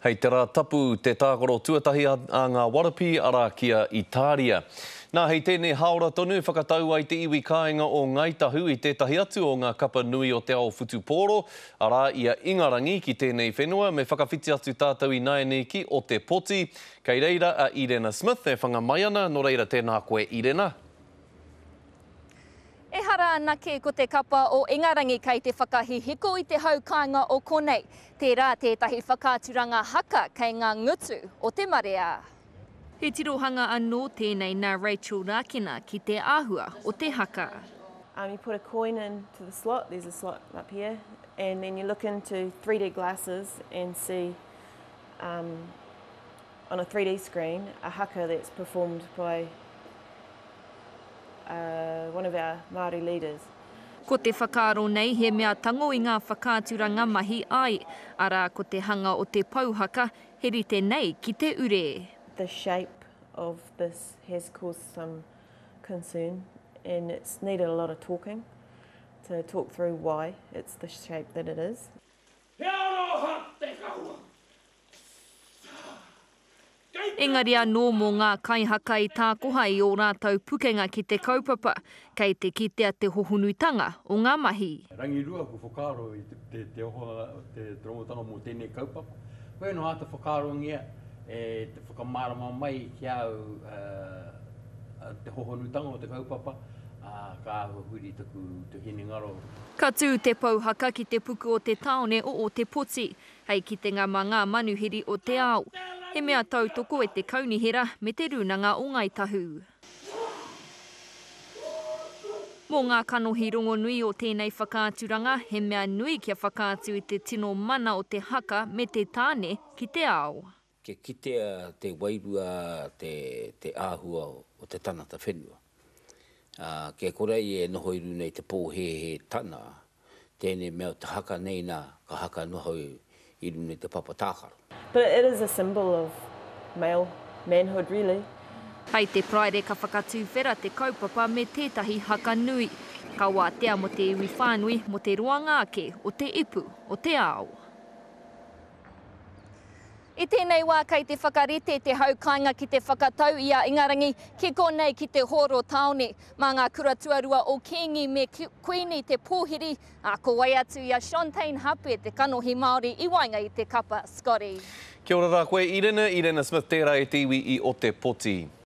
Hei te Rā Tapu te tākaro tuatahi a ngā Warapi arā ki a Itāria. Nā, hei tēnei hāora tonu whakatau ai te iwi kāinga o Ngāi Tahu i tētahi atu o ngā kapa nui o te ao whutupōro, arā, i a Ingarangi ki tēnei whenua, me whakawhiti atu tātou ināianei ki Otepoti. Kei reira a Irena Smith e whanga mai ana, nō reira tēnā koe Irena. Ehara anake ko te kapa o Ingarangi kei te whakahihiko i te hau kāinga o konei, tērā tētahi whakaaturanga haka kei ngā ngutu o te marea. He tirohanga anō tēnei nā Rachel Rākina ki te āhua o te haka. Um you put a coin in to the slot, there's a slot up here, and then you look into three d glasses and see um On a 3D screen, a haka that's performed by uh, one of our Māori leaders. Ko te whakaaro nei he mea tango i ngā whakaaturanga mahi ai, arā ko te hanga o te pou haka, he rite nei ki te ure. The shape of this has caused some concern and it's needed a lot of talking to talk through why it's the shape that it is. He aroha te kawa, Engari anō mō ngā kaihaka i tākoha i ō rātou pukenga ki te kaupapa, kei te kitea te hohonutanga o ngā mahi. Rangirua, kua whakaaro i te ohanga o te ronotanga mō tēnei kaupapa. Koia nō āta whakaarongia e te whakamārama mai ki a au te hohonutanga o te kaupapa, ā, ka āhua huri taku hinengaro. Ka tū te pouhaka ki te puku o te tāone o Ōtepoti. hei kitenga mā ngā manuhiri o te ao. He mea tautoko e te Kaunihera me Te Rūnanga o Ngāi Tahu. Mō ngā kanohi rongonui o tēnei whakaaturanga, he mea nui kia whakaatu i te tino mana o te haka me te tāne ki te ao. kia kitea te wairua te te āhua o te tangata whenua. Ā, kia kore ai e noho i runga i te pōhēhē tana, tēnei mea o te haka nei nā, ka haka noho i runga i te papa tākaro. But it is a symbol of male manhood really. Kai te Praire ka whakatūwhera te kaupapa me tētahi haka nui. Ka wātea mō te iwi whānui, mō te roanga ake o te ipu o te ao. I tēnei wā kei te whakarite te hau kāinga ki te whakatau i a Ingarangi ki konei ki te hōro tāone. Mā ngā kura tuarua o Kīngi me Kuini te pōhiri, ā, ko wai atu i a Shontaine Hape te kanohi Māori i waenga i te kapa Scotty. Kia ora ra koe Irene, Irene Smith tera e te iwi i Otepoti.